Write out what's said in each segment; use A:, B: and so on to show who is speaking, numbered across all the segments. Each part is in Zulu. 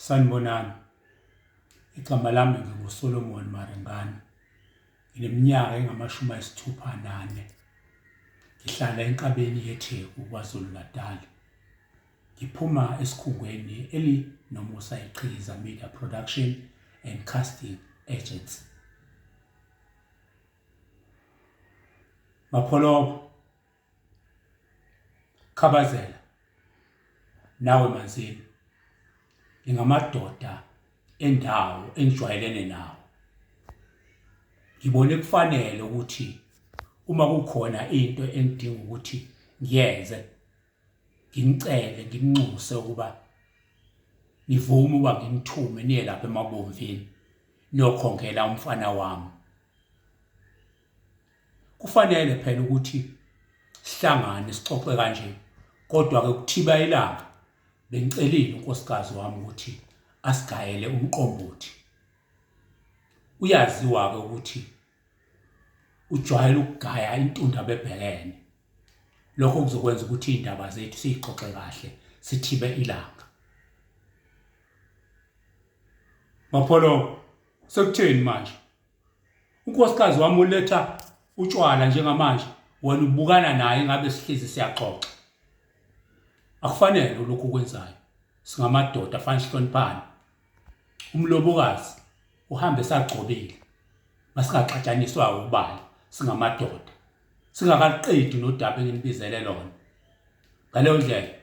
A: Sanibonani, igama lami nginguSolomon Maringana, ngineminyaka engamashumi ayisithupha nane. Ngihlala enkabeni yeTheku KwaZulu-Natal. Ngiphuma esikhungweni elinomusa iQhikiza Media Production and Casting Agency. Mapholoba, Khabazela nawe Manzini ngingamadoda endawo engijwayelene nawo ngibone kufanele ukuthi uma kukhona into engidinga ukuthi ngiyenze ngimcele ngimnxuse ukuba ngivume uba ngimthume niye lapha emabomvini niyokhongela umfana wami Kufanele phela ukuthi sihlangane sixoxe kanje kodwa ke kuthiba ilanga bengicelile unkosikazi wami ukuthi asigayele umqombothi uyaziwa ke ukuthi ujwayele ukugaya intunda bebhekene lokho kuzokwenza ukuthi indaba zethu siyixoxe kahle sithibe ilanga mapholo sekutheni manje unkosikazi wami uletha utshwala njengamanje wena ubukana naye ngabe sihlezi siyaxoxa akufanele lokhu kwenzayo singamadoda afana sihloniphane umlobokazi uhambe sagcobile masingaxatshaniswa ubala singamadoda singakaqedi nodaba enginibizele lona ngaleyo ndlela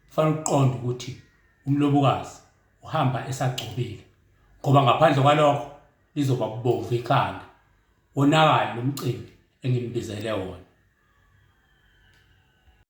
A: Kufanele uqonde ukuthi umlobokazi uhamba esagcobile ngoba ngaphandle kwalokho lizoba kubomvu ikhanda wonakale lo mcimbi engimbizele wona.